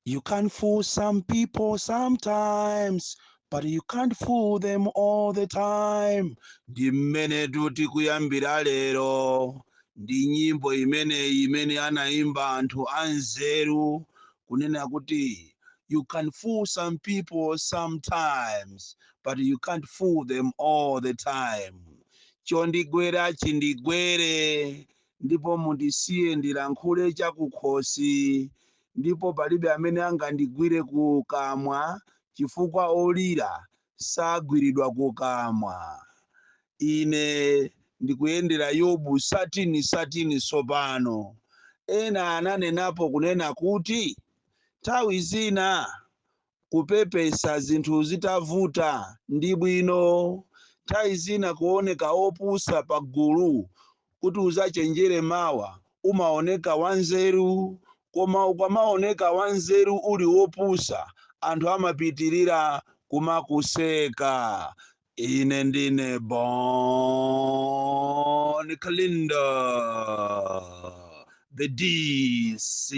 You can fool some people sometimes, but you can't fool them all the time. Ndi mmene tikuyambira lero ndi nyimbo imeneyi imene anaimba anthu anzeru kunena kuti you can fool some people sometimes but you can't fool them all the time chondigwera chindigwere ndipo mundisiye ndilankhule chakukhosi, ndipo palibe amene angandigwire kukamwa, chifukwa olira sagwiridwa kukamwa. Ine ndikuyendera Yobu satini satini tsopano. Ena ananenapo kunena kuti, Nthawi zina kupepesa zinthu zitavuta ndi bwino nthawi zina kuoneka wopusa pa gulu kuti uzachenjere mawa umaoneka wanzeru koma ukamaoneka wanzeru uli wopusa anthu amapitirira kumakuseka Ine ndine Bon Kalindo, the DC,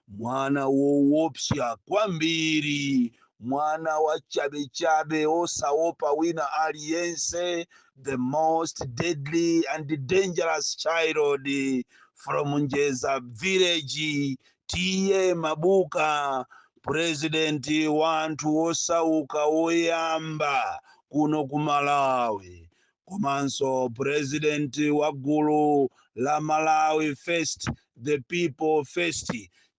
mwana woopsa kwambiri, mwana wa chabechabe osaopa wina aliyense, the most deadly and dangerous child from Njeza village T/A Mabuka president wa anthu osauka woyamba kuno ku malawi komanso president wa gulu la malawi first the people first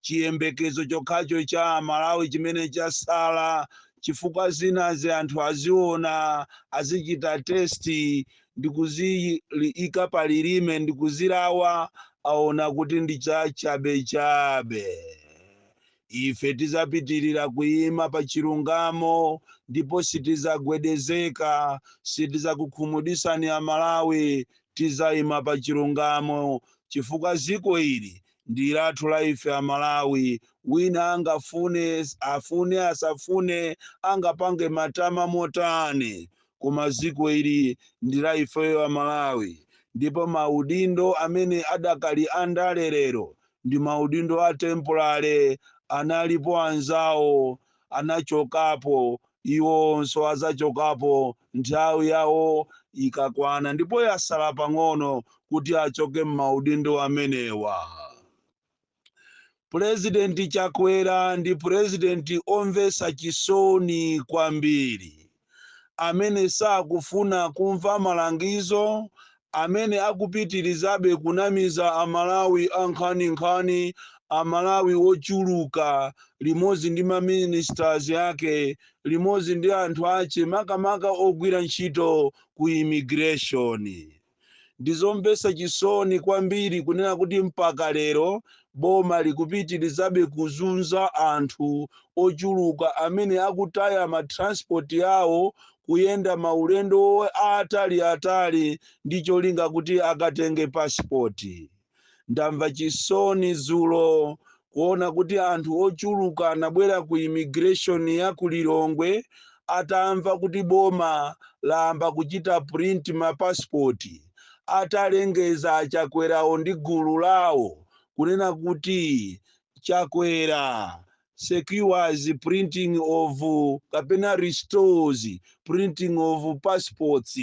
chiyembekezo chokhacho cha malawi chimene chasala chifukwa zinazi anthu aziona azichita testi ndi kuziika pa lilime ndi kuzilawa aona kuti ndi chachabechabe ife tizapitirira kuima pa chilungamo ndipo sitizagwedezeka sitizakukhumudisani a malawi tizaima pa chilungamo chifukwa ziko ili ndi lathu la ife a malawi wina angafune afune asafune angapange matama motani koma dziko ili ndi la ifeyo Amalawi ndipo maudindo amene atakhalira andale lero ndi maudindo a temporary. Analipo anzawo anachokapo, iwonso adzachokapo nthawi yawo ikakwana ndipo yatsala pang'ono kuti achoke m'maudindo amenewa. purezidenti chakwera ndi purezidenti omvetsa chisoni kwambiri amene sakufuna kumva malangizo amene akupitirizabe kunamiza amalawi ankhaninkhani amalawi ochuluka limodzi ndi maministers yake limodzi ndi anthu ache makamaka ogwira ntchito ku immigration Ndi zomvetsa chisoni kwambiri kunena kuti mpaka lero boma likupitirizabe kuzunza anthu ochuluka amene akutaya ma transport awo kuyenda maulendo aataliatali ndi cholinga kuti akatenge passport. Ndamva chisoni dzulo kuona kuti anthu ochuluka anabwera ku immigration ya ku Lilongwe atamva kuti boma lamba kuchita print ma passport atalengeza Chakwerawo ndi gulu lawo kunena kuti Chakwera secures printing of kapena restores printing of passports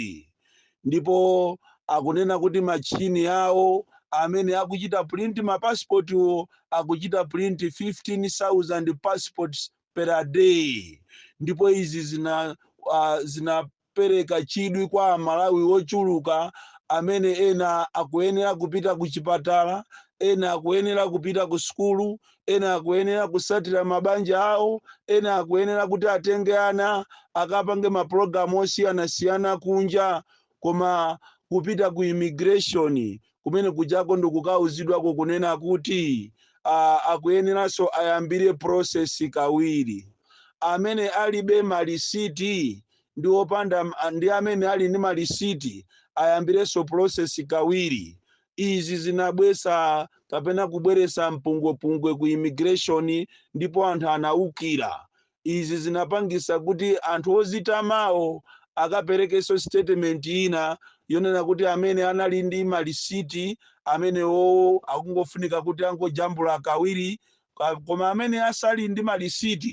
ndipo akunena kuti machine awo amene akuchita print ma passport wo akuchita print 15000 passports per day ndipo izi zina uh, zina pereka chidwi kwa Amalawi ochuluka amene ena akuyenera kupita kuchipatala, ena akuyenera kupita kusukulu, ena akuyenera kusatira mabanja awo, ena akuyenera kuti atenge ana akapange mapulogalamu osiyanasiyana kunja. Koma kupita ku immigration kumene kujako ndikukauzidwako kunena kuti uh, akuyeneranso ayambire process kawiri amene alibe malisiti ndi opanda ndi amene ali ndi malisiti ayambirenso process kawiri izi zinabwesa kapena kubweresa mpungwepungwe ku immigration ndipo anthu anaukira Izi zinapangisa kuti anthu odzitamawo akaperekeso statement ina yonena kuti amene anali ndi ma lisiti amenewowo akungofunika kuti angojambula kawiri koma amene asali ndi ma lisiti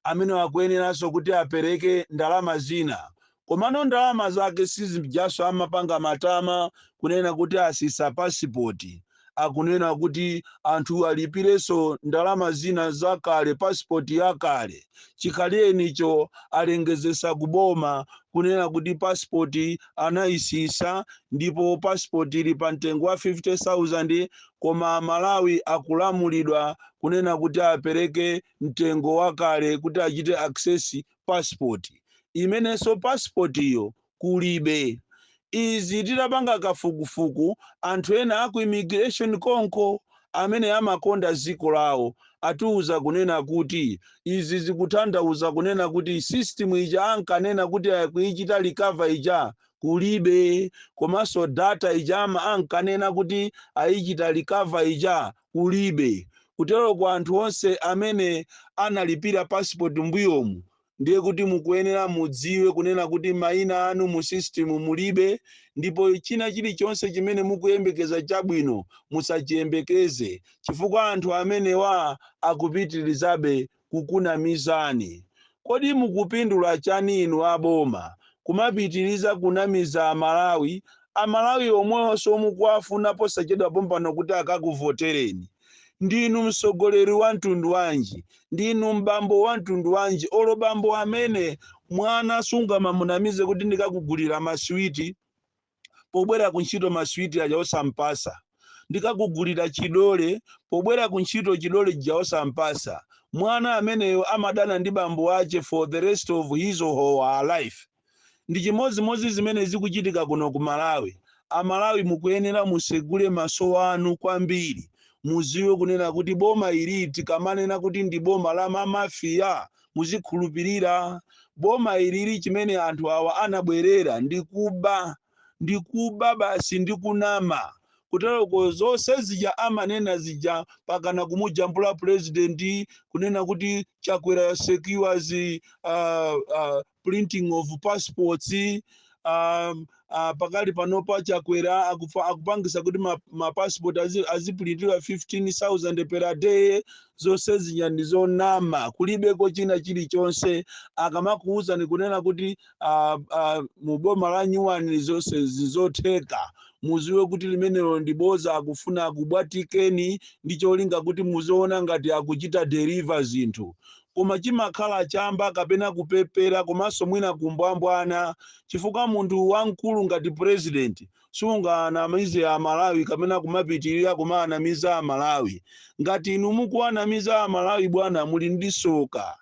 amenewo akuyeneraso kuti apereke ndalama zina komano ndalama zake si zijaso amapanga matama kunena kuti asisa pasipoti akunena kuti anthu alipireso ndalama zina zakale pasipoti yakale chikhalirenicho alengezesa kuboma kunena kuti pasipoti anayisisa ndipo pasipoti ili pa mtengo wa 50000 koma amalawi akulamulidwa kunena kuti apereke mtengo wakale kuti achite access passport imenenso passport yo kulibe. Izi tidapanga kafukufuku anthu ena aku immigration konko amene amakonda dziko lawo atiuza kunena kuti izi zikutanthauza kunena kuti system ija ankanena kuti akuichita recover ija kulibe komanso data ija ankanena kuti aichita recover ija kulibe. Kutero kwa anthu onse amene analipira passport mbuyomu ndiye kuti mukuyenera mudziwe kunena kuti maina anu mu system mulibe ndipo china chilichonse chimene mukuyembekeza chabwino musachiyembekeze chifukwa anthu amenewa akupitilizabe kukunamizani. Kodi mukupindula chani inu a boma kumapitiliza kunamiza a Malawi, a Malawi omwewonso mukuwafuna posachedwa pompano kuti akakuvotereni. Ndinu mtsogoleri wa mtundu wanji, ndinu m'bambo wa mtundu wanji olo bambo amene mwana sungamamunamize kuti ndikakugulira ma sweet. pobwera kuntchito ma sweet aja osampasa ndikakugulira chidole pobwera kuntchito chidole chija osampasa mwana ameneyo amadana ndi bambo ache for the rest of his or her life ndi chimodzimodzi zimene zikuchitika kuno ku malawi amalawi mukuyenera musegule maso anu kwambiri muziwe kunena kuti boma ili tikamanena kuti ndi boma la mamafiya muzikhulupirira boma ilili, chimene anthu awa anabwerera ndi kuba ndi kuba basi ndi kunama kuteroko zonse zija amanena zija pakana kumujambula purezidenti kunena kuti chakwera secures uh, uh, printing of passports um, uh, pakali panopa chakwera akupangisa kuti ma- mapassport azi- azipulintidwa 15000 per day zonse zija ndi zonama kulibeko china chilichonse akamakuwuzani kunena kuti uh, uh, mu boma la nyuwani zonse zizotheka muziwe kuti limenelo ndi boza akufuna akubwatikeni ndi cholinga kuti muziona ngati akuchita deliver zinthu Koma chimakhala chamba kapena kupepera komanso mwina kumbwambwana chifukwa munthu wamkulu ngati president sungawanamize a Malawi kapena kumapitilira kumawanamiza a Malawi. Ngati inu mukuwanamiza a Malawi bwana muli ndi soka.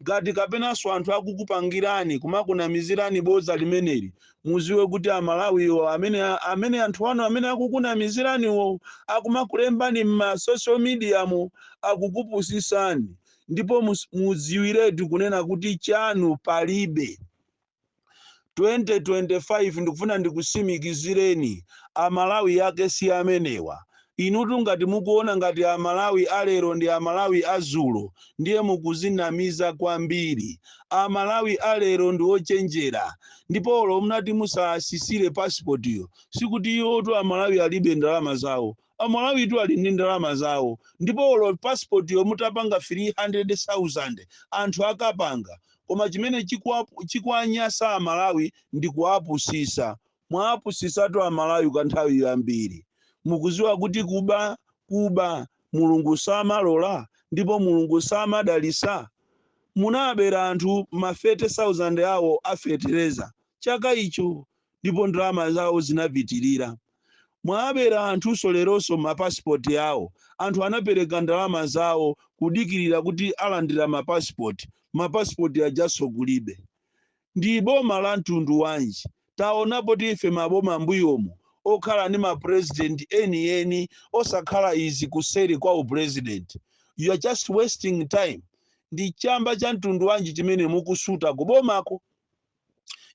Ngati kapenanso anthu akukupangirani kumakunamizirani bodza limeneli muziwe kuti a Malawi wo amene amene anthu anu amene akukunamizirani wo akumakulembani mma social media mo akukupusisani. ndipo mudziwiretu kunena kuti chanu palibe 2025 ndikufuna ndikusimikizireni amalawi yake si amenewa inutu ngati mukuona ngati amalawi alero ndi amalawi azulo ndiye mukuzinamiza kwambiri amalawi alero ndi ochenjera ndipo olo munati musasisire pasipotiyo sikuti iwotu amalawi alibe ndalama zawo Amalawitu ali ndi ndalama zawo ndipo olo passport yo mutapanga 300,000 anthu akapanga koma chimene chikuwanyasa amalawi ndi kuwapusisa. Mwawapusisatu amalawi kwa nthawi yambiri. Mukuziwa kuti kuba kuba Mulungu samalola ndipo Mulungu samadalisa? Munawabera anthu ma 30,000 awo a fetereza chaka icho ndipo ndalama zawo zinapitirira. Mwabera anthunso leronso ma passport awo. Anthu anapereka ndalama zawo kudikirira kuti alandira ma passport, ma passport ajanso kulibe. Ndi boma la mtundu wanji? Taonapotu ife maboma mbuyomu okhala ndi ma president eni eni osakhala izi kuseri kwa u president. You are just wasting time. Ndi chamba cha mtundu wanji chimene mukusuta ku bomako?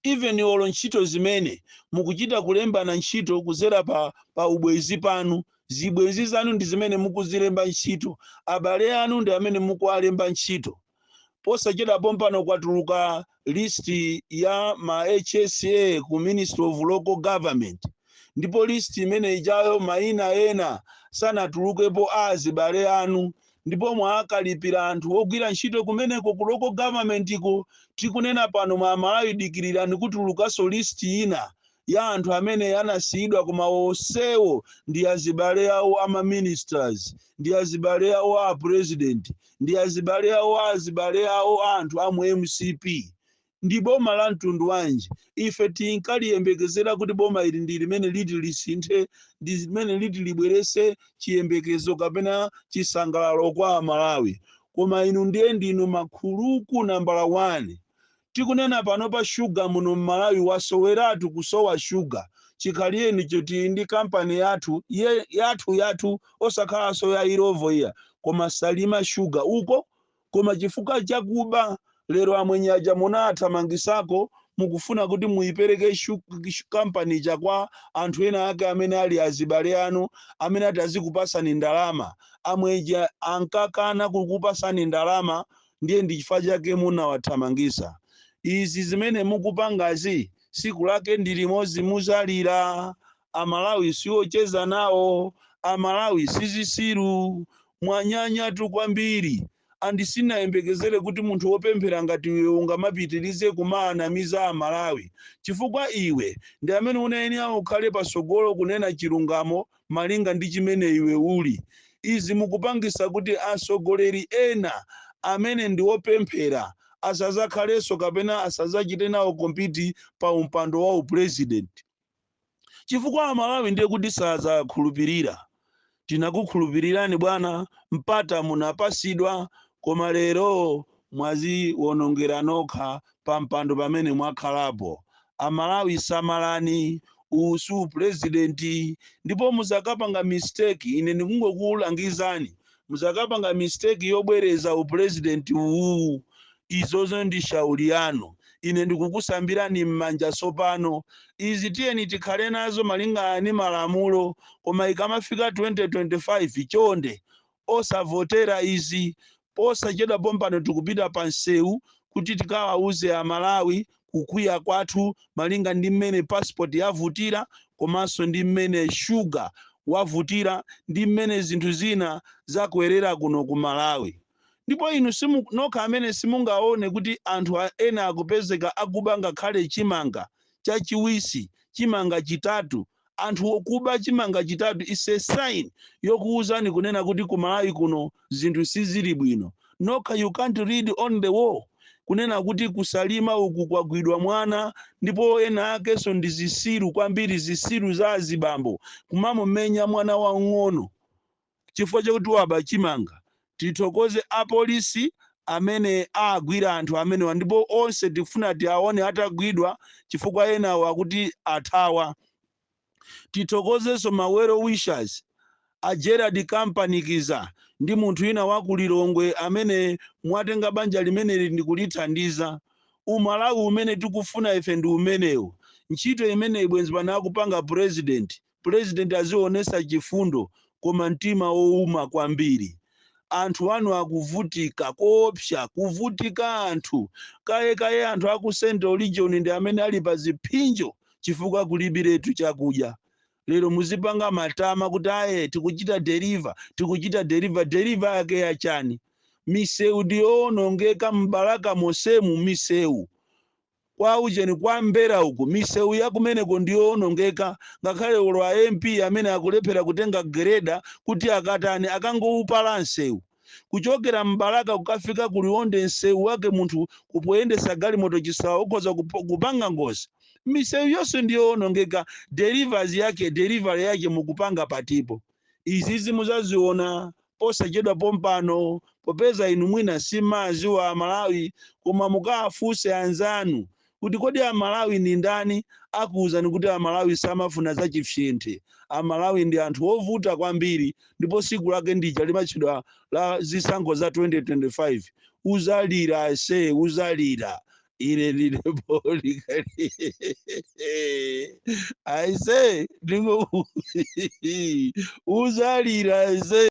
even olo ntchito zimene mukuchita kulembana ntchito kuzera pa ubwenzi panu zibwenzi zanu ndi zimene mukuzilemba ntchito abale anu ndi amene mukuwalemba ntchito posachedwa pompano kwatuluka list ya ma HSA ku Ministry of Local Government ndipo list imene ijayo maina ena sanatulukepo a azibale anu ndipo mwawakalipira anthu ogwira ntchito kumeneko ku local government ko tikunena pano mwa Amalawi dikirirani kutulukanso list ina ya anthu amene anasiyidwa koma onsewo ndi azibale awo ama ministers ndi azibale awo a president ndi azibale awo a azibale awo a anthu a mu MCP Ndi boma la mtundu wanji? Ife tinkaliyembekezera kuti boma ili ndi limene liti lisinthe, ndi limene liti libweretse chiyembekezo kapena chisangalalo kwa Amalawi. Koma inu ndiye ndinu makhuluku nambala wani. Tikunena panopa shuga muno m'Malawi wasoweratu, kusowa shuga. Chikhalienicho tili ndi kampani yathu, yathuyathu, osakhalanso ya Illovo ija, koma Salima shuga. Uko koma chifukwa cha kuba lero amwenye aja munawathamangisako mukufuna kuti muyipereke kampani ija kwa anthu ena ake amene ali azibale anu amene ati azikupasani ndalama amwenye ankakana kukupasani ndalama ndiye ndi chifukwa chake munawathamangisa izi zimene mukupangazi siku lake ndi limodzi muzalira amalawi siocheza nawo amalawi si zisiru mwanyanyatu kwambiri and sinayembekezere kuti munthu wopemphera ngati iwe ungamapitirize kumaanamiza amalawi chifukwa iwe ndi amene unayenera ukhale pasogolo kunena chilungamo malinga ndi chimene iwe uli izi mukupangisa kuti asogoleri ena amene ndi wopemphera asazakhalenso kapena asazachite nawo kompiti pampando wa upresident chifukwa amalawi ndiye kuti sazakhulupirira tinakukhulupirirani bwana mpata munapasidwa koma lero mwaziwonongera nokha pampando pamene mwakhalapo amalawi samalani uwu si president ndipo muzakapanga mistake ine ndikungokulangizani muzakapanga mistake yobwereza upresident uwuwu izozo ndi shauri yanu ine ndikukusambirani m'manja tsopano izi tiyeni tikhale nazo malingana ni malamulo koma ikamafika 2025 chonde osavotera izi posachedwa pompano tikupita pa msewu kuti tikawauze amalawi kukwiya kwathu malinga ndi mmene passport yavutira komanso ndi mmene sugar wavutira ndi mmene zinthu zina zakwerera kuno ku Malawi. Ndipo inu nokha amene simungaone kuti anthu ena akupezeka akuba ngakhale chimanga chachiwisi, chimanga chitatu anthu akuba chimanga chitatu is a sign yokuuzani kunena kuti ku malawi kuno zinthu sizili bwino nokha you can't read on the wall kunena kuti ku Salima uku kwagwidwa mwana ndipo ena akenso ndi zisiru kwambiri zisiru za azibambo kumamumenya mwana wang'ono chifukwa chakuti waba chimanga. Tithokoze apolisi amene agwira anthu amenewa ndipo onse tifuna tiaone atagwidwa chifukwa enawo akuti athawa. Tithokozenso ma well wishers a Gerald Kampanikiza ndi munthu ina wa ku Lilongwe amene mwatenga banja limeneli ndi kulithandiza. Umalawi umene tikufuna ife ndi umenewu. Ntchito imeneyi bwenzi pano akupanga pulezidenti. Pulezidenti azionesa chifundo koma mtima ouma kwambiri. Anthu anu akuvutika koopsa, kuvutika anthu. Kaye kaye anthu aku central region ndi amene ali pa ziphinjo chifukwa kulibiretu chakudya. Lero muzipanga matama kuti aye tikuchita deliver, tikuchita deliver, deliver yake ya chani? Misewu ndi yoonongeka m'Balaka monsemu misewu. Kwa ujeni kwa mbera uku misewu yakumeneko ndiyoonongeka ngakhale olo a MP amene akulephera kutenga gereda kuti akatani akangoupala nsewu kuchokera m'Balaka kukafika ku Liwonde nsewu wake munthu kupoyendesa galimoto chisawawa, ukhoza kupanga ngozi misewu yonse ndiyoonongeka delivery yake delivery yake mukupanga patipo izizi muzaziona posachedwa pompano popeza inu mwina simaziwa amalawi koma mukaafunse anzanu kuti kodi amalawi ndi ndani akuuzani kuti amalawi samafuna za chifyenthe amalawi ndi anthu wovuta kwambiri ndipo siku lake ndija limatchedwa la zisankho za 2025 uzalira ase uzalira ine ndine boli kali aise ndingo uzalira aise